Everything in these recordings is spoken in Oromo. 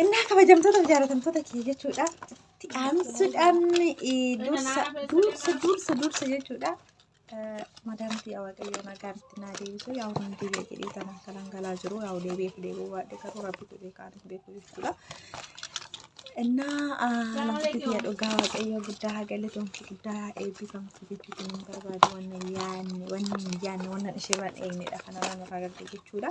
Innaa kabajamtoota fi jaalatamtoota kiyya jechuudha. Itti aansuudhaan eh, dursa dursa dursa dursa jechuudha. Eh, Madaamti yaa waaqayyo nagaan itti naa deebisu yaa humni deebi'e jedhee kan akka dhangalaa jiru yaa deebi'eef deebi'uu baadhe garuu rabbi jedhee kaan hin beeku jechuudha. Innaa ah, namatti kiyya dhugaa waaqayyo guddaa haa galatomtu guddaa haa eebbifamtu jechuu kan hin barbaadu wanna hin yaanne wanna hin yaanne wanna ishee waan eegnedha kanarraa nurraa gadde jechuudha.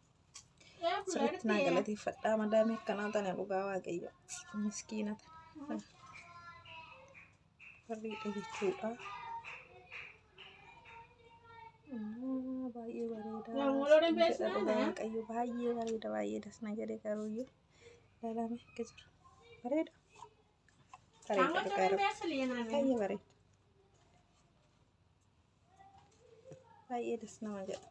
Sirriitti naa galateeffadhaa madaamii akkanaa tana dhugaa waaqayyo miskiina tana. Barreedha jechuudha. Ammoo Baay'ee bareeda. Yaa mooloo Isin dandeessi jedha dhugaa nana. waaqayyo baay'ee bareeda baay'ee das na jedhe garuuyyuu ilaalame akka jiru. Bareeda. Bareeda dhugaa rabbi. Baay'ee bareeda. Baay'ee das nama jedha.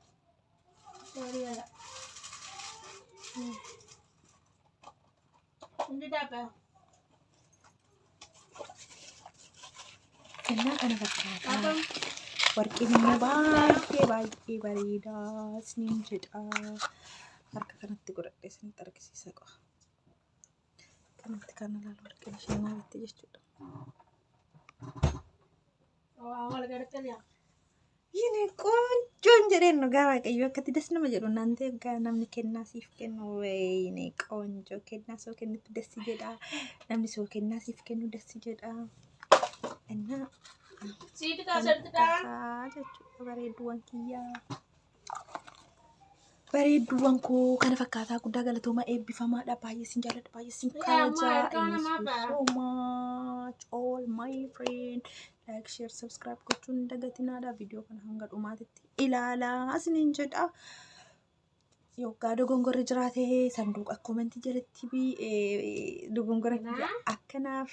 Kennaa kana fakkaata. Warqeen immoo baay'ee baay'ee bareedaa isiniin jedha. Harka kanatti godhadhee isinitti argisiisa qofa. Kanatti kan ilaalu warqeen ishee maal itti jechuudha. Yini qoonjoon jedheen dhugaa waaqayyo akkatti das nama jedhu naan ta'e egaa namni kennaa siif kennu wayini qoonjoo kennaa soo kennitu das jedha namni soo kennaa siif kennu das jedha. Innaa Siiti kan jechuudha bareedduuwwan kiyyaa. Bareedduuwwan koo kana fakkaataa guddaa galatoomaa eebbifamaadha. Baay'ee sin jaalladha. Baay'ee sin kabajaa. Thank you so much all my friend. Like, share, subscribe gochuun hin dagatinaadha. Viidiyoo kana hanga dhumaatitti ilaalaa isiniin jedha. Yoggaa dogongorri jiraate sanduuqa koomentii jalatti bi- eh, dogongora kiyya akkanaaf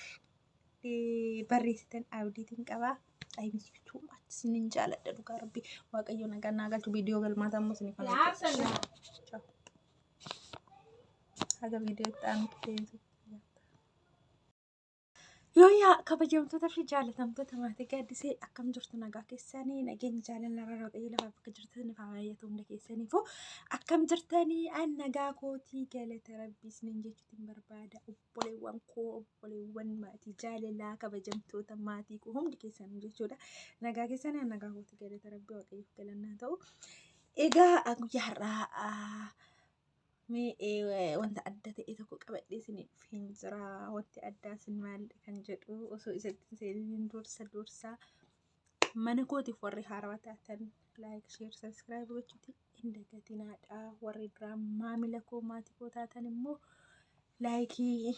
barreessitan abdiitiin qaba. I miss you too much. Sinin jaaladha dhugaa rabbi. Waaqayyo nagaan naa galchu viidiyoo galmaataa immoo sinif kan hojjetu. Haga viidiyoo itti aanutti deemtu. Yoo yaa kabajamtoota fi jaalatamtoota maatii gaaddisee akkam jirtu nagaa keessanii nageenyi jaalala irra waaqayyo lafa bakka jirtan faa baay'atu hunda keessaniifuu akkam jirtanii an nagaa kootii galata rabbii isiniin jechuutiin barbaada. obboleewwan koo obboleewwan maatii jaalalaa kabajamtoota maatii koo hundi keessanuu jechuudha. Nagaa keessan nagaa kooti galata rabbii waaqayyoof galannaa ta'u. Egaa ah, guyyaa har'aa ah, mee eh, wanta adda ta'e tokko qabadhee isiniif hin jira. Wanti addaa isin maal kan jedhu osoo isatti hin seeniin dursa dursa Mana kootiif warri haarawaa taatan like, share, subscribe gochuuti hin dagatinaadha. Warri duraa maamila koo maatii koo taatan immoo laayikii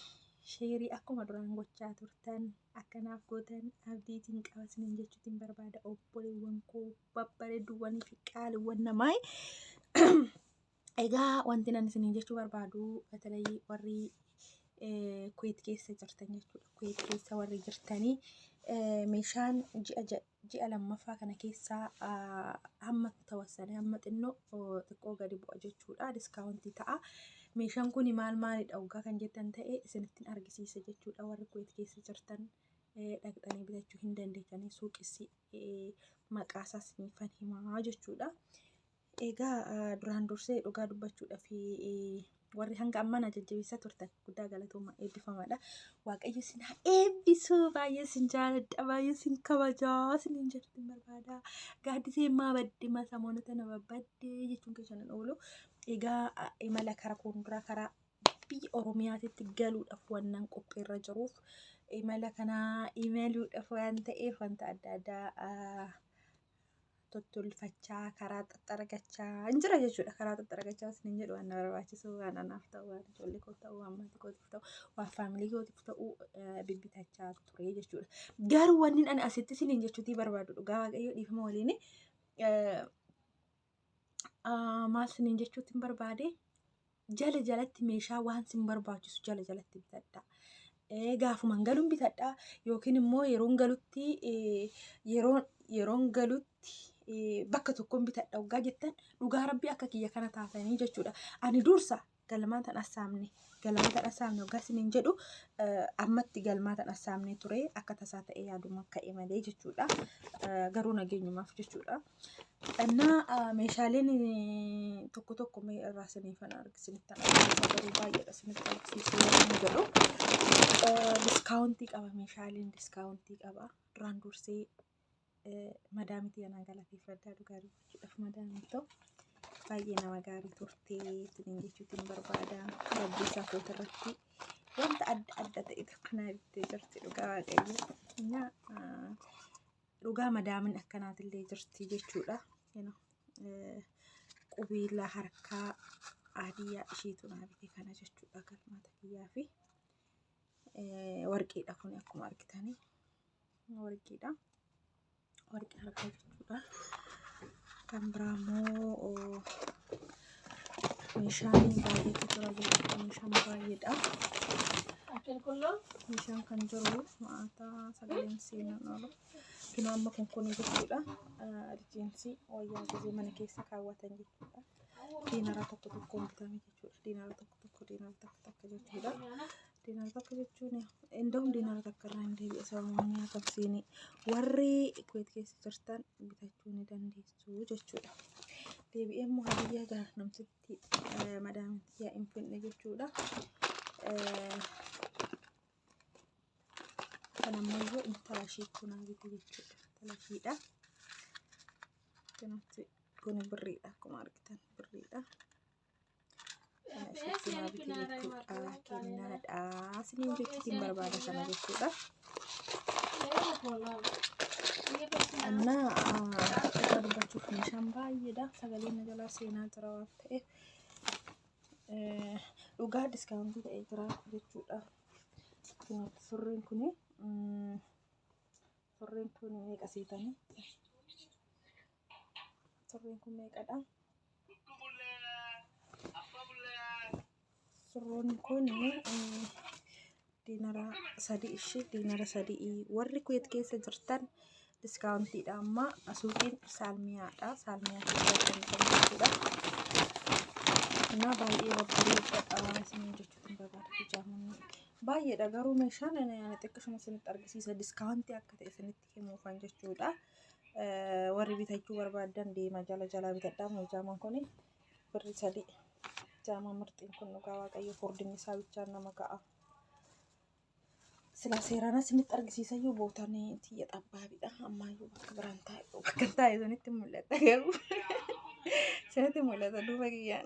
sheerii akkuma duraan gochaa turtan akkanaaf gootan abdiitiin qabasnin jechuutiin barbaada obboleewwan koo babbareedduuwwanii fi qaaliiwwan namaa. Egaa wanti nan isiniin jechuu barbaadu batalayii warri kuweet keessa jirtan jechuudha. Kuweet keessa warri jirtanii meeshaan ji'a ji'a lammaffaa kana keessaa hamma tawassan hamma xinnoo xiqqoo gadi bu'a jechuudha. Diskaawuntii ta'a. Meeshaan kun maal maalidha oggaa kan jettan ta'e isinittiin argisiisa jechuudha. Warri kuweet keessa jirtan dhaqxanii bitachuu hin dandeessanii suuqissi maqaasaas ni fan himaa jechuudha. Egaa duraan dursee dhugaa dubbachuudhaaf warri hanga ammaa na jajjabeessaa turtan guddaa galatooma eebbifamaadha. Waaqayyo isin haa eebbisu baay'ee isin jaaladha baay'ee isin kabajaa isin hin jirtu barbaada. Gaaddisee immaa badde ma samoonota na babbadde jechuun keessan hin oolu. Egaa a- imala kara fuulduraa karaa biyya Oromiyaatitti galuudhaaf wannan qophiirra jiruuf imala kanaa imaluudhaaf waan ta'eef wanta adda addaa ah, tottolfachaa karaa xaxxaragachaa hin jira jechuudha karaa xaxxaragachaa isin hin jedhu waan na barbaachisu waan anaaf ta'u waan ijoollee koof ta'u waan maatii kootiif ta'u waan faamilii kootiif ta'u bibbitachaa ture jechuudha garuu wanni ani asitti isin hin jechuutii barbaadu dhugaa waaqayyo dhiifama waliin maal isin hin jechuutiin barbaade jala jalatti meeshaa waan sin barbaachisu jala jalatti bitadha. Eh, Gaafuman galuun bitadha yookiin immoo yeroon galutti eh, yeroon yeroon galutti eh, bakka tokkoon bitadha hoggaa jettan dhugaa rabbii akka kiyya kana taatanii jechuudha. Ani dursa galmaan tan assaamne galmaa tan assaamne hoggaa isiniin jedhu eh, ammatti galmaa tan assaamne ture akka tasaa ta'e yaaduma ka'e malee jechuudha. Eh, Garuu nageenyumaaf jechuudha. Annaa meeshaaleen tokko tokko mee irraa siniifan argisinistan argisiisa garuu baay'eedha sinitti argisiisuu hin jedhu. Diskaawuntii qaba meeshaaleen diskaawuntii qaba. Duraan dursee madaamitii anaa galateeffadhaa dhugaa dubbachuudhaaf madaamiin ta'u baay'ee nama gaarii turtee isiniin jechuutiin barbaada. Rabbii isaa koota irratti wanta adda adda ta'e tokko naa bittee jirti dhugaa waaqayyo. Innaa Dhugaa madaamin akkanaatillee jirti jechuudha. Qubiila harkaa aadiyyaa ishiitu naa bite kana jechuudha galmata kiyyaa fi warqiidha kun akkuma argitanii warqiidha. Warqii harkaa jechuudha. Kan biraa immoo Meeshaaleen baay'eetu jira jechuudha. Meeshaan baay'eedha. Meeshaan kan jiru maataa sagaleen seenan oolu. Kino amma kun kun jechuudha. Rifeensi wayyaa gisee mana keessa kaawwatan jechuudha. Diinara tokko tokko bitame jechuudha. Diinara tokko tokko diinara takka takka jechuudha. Diinara takka jechuun indahum diinara takka irraa hin deebi'e sababni akka seenee warri kuweet keessa jirtan bitachuu ni dandeessu. barbaachisuu jechuudha. Deebi'ee immoo hadiyyaa gara namtitti madaamti yaa hin finne jechuudha. Kan ammayyuu intala ishii kunaa bite jechuudha. Intala ishiidha. Kanatti kun birriidha akkuma argitan birriidha. Shittinaa bitii jechuudha. Kennaadha. Isiniin jechuutiin barbaada kana jechuudha. Annaa akka dubbachuuf meeshaan baay'eedha. Sagaleen na jalaa seenaa jira waan ta'eef. Dhugaa diskaawuntii ta'ee jira jechuudha. Surreen kun surreen kun meeqa seetanii? Surreen kun meeqadha? Surroon kun diinara sadii ishee diinara sadii warri kuweet keessa jirtan diskaawuntiidha amma suuqiin saalmiyaadha saalmiyaa keessa kan jechuudha. Kanaaf baay'ee babbareedadha isin jechuutiin barbaada hijaamuun baay'eedha garuu meeshaan xiqqashuma isinitti argisiisa diskaawuntii akka ta'e isinitti himuufan jechuudha. Warri bitachuu barbaadan deema jala jalaa bitadhaa moo jaamaan kun birri sadii jaamaa mirxiin kun dhugaa waaqayyo furdinni isaa bichaan nama ka'a. Sila seeraan isinitti argisiisayyuu bootaan tiyya xabbaabiidha. Ammaayyuu bakka biraan taa'e bakka taa'e sanitti mul'ata garuu sanitti mul'ata duuba kiyyaan.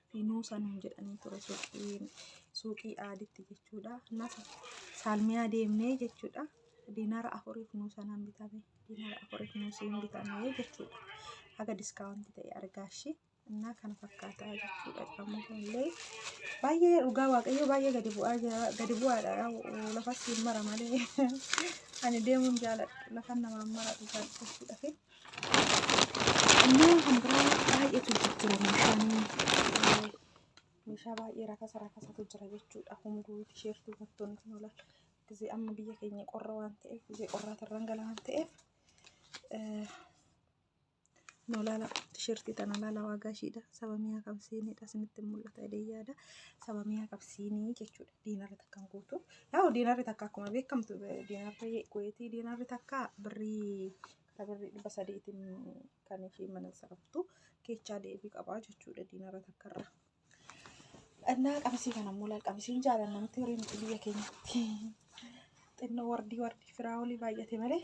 Finuusa nuun jedhanii ture suuqiin suuqii aaditti jechuudha. Innas saalmiyaa deemnee jechuudha. Diinara afuriif nuu sanaan bitame. Diinara afuriif nuu siin bitame jechuudha. Haga diskaawunti ta'e argaashi. Innaa kana fakkaataa jechuudha. Amma illee baay'ee dhugaa waaqayyoo baay'ee gadi bu'aa jira. Gadi bu'aadha yaa'u lafas siin mara malee. Ani deemuun jaaladha. Lafan namaan mara dhugaa dubbachuudhaaf. Ammoo kan biraa baay'eetu jijjiira meeshaan meeshaa baay'ee rakasa rakasatu jira jechuudha. Hunduu tisheertuu uummattoonni kun oolan gisee amma biyya keenya qorra waan ta'eef gisee qorraatirraan gala waan ta'eef nu laala tisheertii tana laala waagaa ishiidha saba miyaa qabsiinidha isinitti hin mul'ata jedhee yaada saba miyaa qabsiinii jechuudha. diinarri takka hin guutu. Yaa'u diinarri takka akkuma beekamtu diinarri kuweetii diinarri takka birrii kara birrii dhibba sadiitiin kan ishee mana saraftu keechaa deebii qabaa jechuudha diinarra takka irra. Dhannaa qabisii kana immoo laal qabisiin jaalan namatti horii miti biyya keenyatti. Xinnoo wardii wardii firaa olii baay'ate malee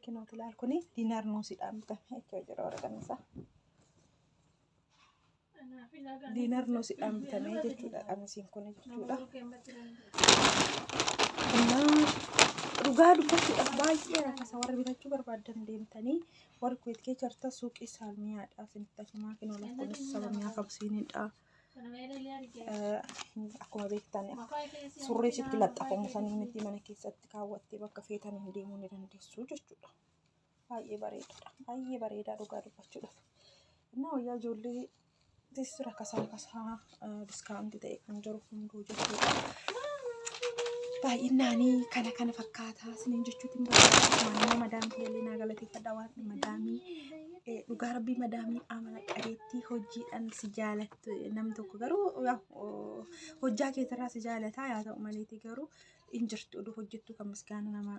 kinooti laal kuni diinaar nuusidhaan bitame jechuu jira waraqaan isaa. diinar noo si dhaambitamee jechuudha qamisiin kun jechuudha. Dhugaa dubbachuudhaaf baay'ee rakkasa warri bitachuu barbaadan deemtanii warri kuweet kee jarta suuqii saalmiyaadhaa sinitti himaa fi noolaa kunis sabamiyaa qabsiinidha. Akkuma beektan surree sitti laxxafamu sanii miti mana keessatti kaawwattee bakka feetan hin deemuu ni dandeessu jechuudha. Baay'ee bareedaadha. Baay'ee bareedaa dhugaa dubbachuudhaaf. Innaa wayyaa ijoollee teessisuu rakkasaa rakkasaa diskaawunti ta'e kan jiru hunduu jechuudha. Baay'innaanii kana kana fakkaataa isiniin jechuutiin barbaada. Maammoo madaamii illee naa galateeffadha waan madaamii eh, dhugaa rabbii madaamii amala qabeettii hojiidhaan si jaalattu eh, nam tokko garuu yaa, oh, hojjaa keetirraa si jaalataa yaa ta'u maleeti garuu hin jirtu oduu hojjettuu kan misgaana namaa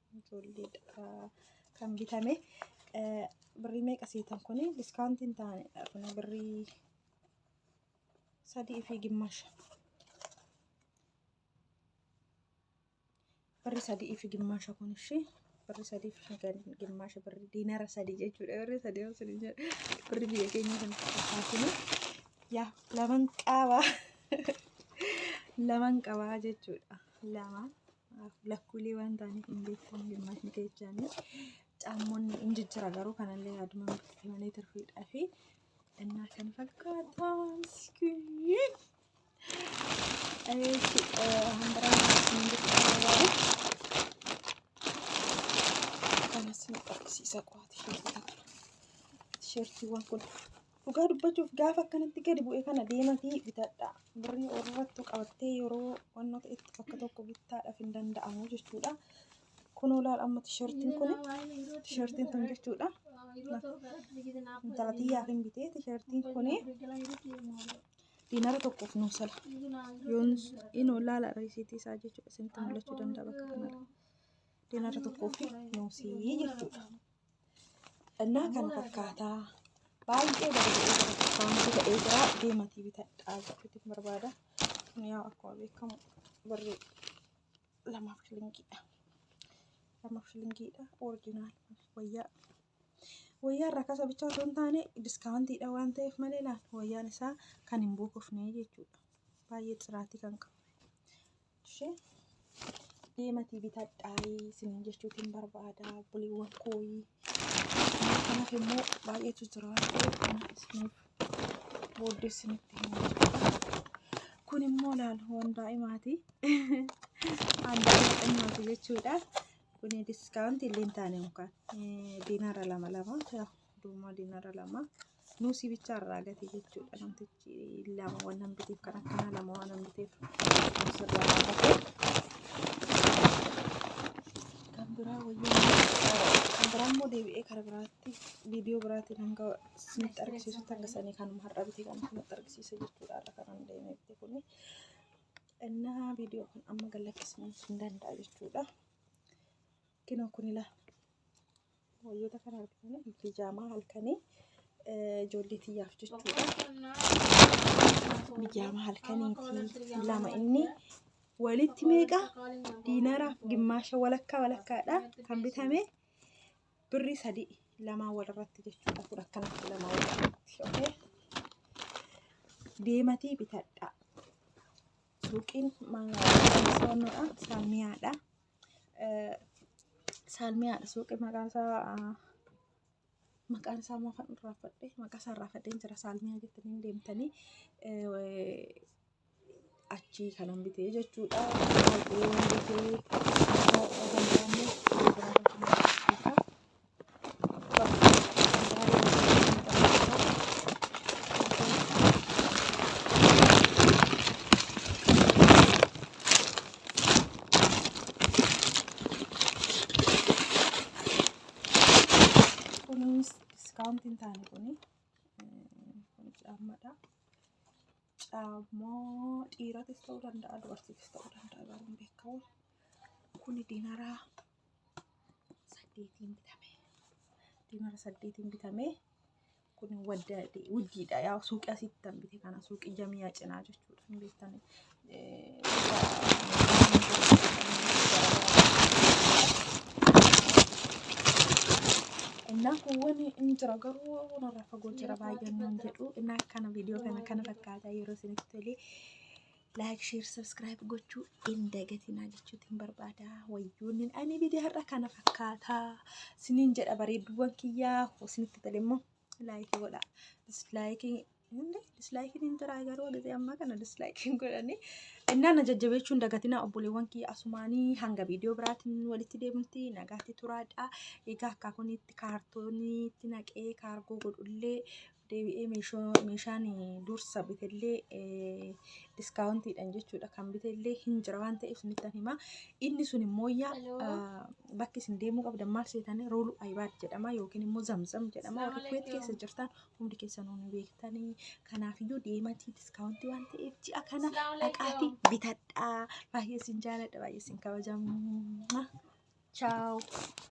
ijoolleedha kan bitame birrii meeqa seetan kun diskaantiin ta'anidha kun birrii sadii fi gimmaasha birrii sadii fi gimmaasha kun ishee birrii sadii fi gimmaasha birrii diinara sadii jechuudha birrii sadii osoo hin jedhu birrii biyya keenya kan fakkaatu yaa laman qabaa laman qabaa jechuudha lamaan lakkuulee waan ta'aniif hin beekamu hirmaatni kechaanii caammoonni hin jijjira garuu kanallee yaaduma murtii malee turfiidhaa fi innaa kan fakkaata miskiin. Ee, si- ee, handaraa hin jijjiirraa. Kanas ni qabsiisa qo'aati shirtii takka. Shirtiiwwan kun Dhugaa dubbachuuf gaafa akkanatti gadi bu'e kana deematii bitadha. Birrii warrattu qabattee yeroo wannoo ta'etti bakka tokko bittaadhaaf hin danda'amu jechuudha. Kun olaal amma tishartiin kun tishartiin kun jechuudha. Intalati yaaf hin bitee tishartiin kun diinara tokkoof nuu sala. Yoon in olaala riisiitii isaa jechuudha. Isinitti mul'achuu danda'a bakka kanarra. Diinara tokkoof nuu sii jechuudha. Dhannaa kan fakkaataa baay'ee bareedee bareeffamtu ta'ee jira deematii bitadhaa jechuutiin barbaada. Kun yaa akkuma beekamu barree lamaaf shilingiidha. Lamaaf shilingiidha orijinaal wayyaa. Wayyaa irraa kasa bichaa osoo hin taane diskaawuntiidha waan ta'eef malee laal wayyaan isaa kan hin buukofne jechuudha. Baay'ee xiraatii kan qabu. Ishee deematii bitadhaayii isiniin jechuutiin barbaada buliiwwan kooyii. Kanaaf immoo baay'eetu jira waan ta'eef kana isiniif booddee isinitti himaa jechuudha. Kun immoo laal waan daa'imaati. Waan daa'imaati jechuudha. Kun diskaawuntii illee hin taane yookaan diinaara lama lama duumaa diinaara lama. Nuusii bichaa irraa gate jechuudha namtichi lama waan nan biteef kan akkanaa lama waan nan biteef nuusi irraa gate kan biraa wayyaa kan biraa immoo deebi'ee kara biraatti viidiyoo biraatiin hanga isinitti argisiisutti hanga sanii kan har'a bite kan isinitti argisiisa jechuudha har'a kanan deemee bite kuni innaa viidiyoo kan amma gallakkisu hin danda'a jechuudha. Kinoo kun ilaa wayyoota kana argina bijaamaa halkanii ijoollee tiyyaaf jechuudha. Bijaamaa halkaniitii lama inni walitti meeqa diinaraaf gimmaasha walakkaa walakkaadha kan bitame birrii sadii lamaa walirratti jechuudha kun akkanatti lamaa walirratti okay? deematii bitadhaa. Suuqiin maanaa saamiyaadha. Saalmii haadha suuqii maqaan isaa maqaan isaa maafan irraafadhe maqaa isaa irraafadheen jira saalmiyaa jettanii deemtanii achii kanan bitee jechuudha. Baay'ee waan bitee kunis diskaawuntiin taane kuni kun caammadha. Caammoo dhiiratis ta'uu danda'a dubartiifis ta'uu danda'a garuu hin beekamu. Kuni diinaraa saddeetiin bitame diimara saddeetiin bitame kun wadda wuddiidha yaa suuqii asitti tan bite kana suuqii jamiyaa cinaa jechuudha hin beektan innaa kuuwwan hin jira garuu narraa fagoo jira baay'een nan jedhu innaa kana viidiyoo kana kana fakkaataa yeroo isinitti tolee like share subscribe gochuu hin dagatinaa jechuutti hin barbaada wayyuunin ani bidee har'a kana fakkaata siniin jedha bareedduuwwan kiyyaa isinitti tole immoo like godha dislike Inni dislike hin jiraa garuu gisee ammaa kana dislike hin godhani innaa na jajjabeechuun dagatinaa obboleewwan kiyya asumaanii hanga viidiyoo biraatiin walitti deemnutti nagaatti turaadha egaa akkaa kunitti kaartooniitti naqee kaargoo godhullee deebi'ee meesho- meeshaan dursa bitellee eh, diskaawuntiidhaan jechuudha kan bitellee hin jira waan ta'eef isinittan hima inni sun immoo yaa Hello. ah, bakki isin deemuu qabdan maal seetanii rooluu ayibaad jedhama yookiin immoo zamzam jedhama warri Assalamu kuweet keessa alaikum. jirtan hundi keessanuu ni beektanii kanaafiyyuu deematii diskaawuntii waan ta'eef ji'a kana Assalamu alaikum. dhaqaatii bitadhaa baay'ee isin jaaladha baay'ee isin kabajamu chaaw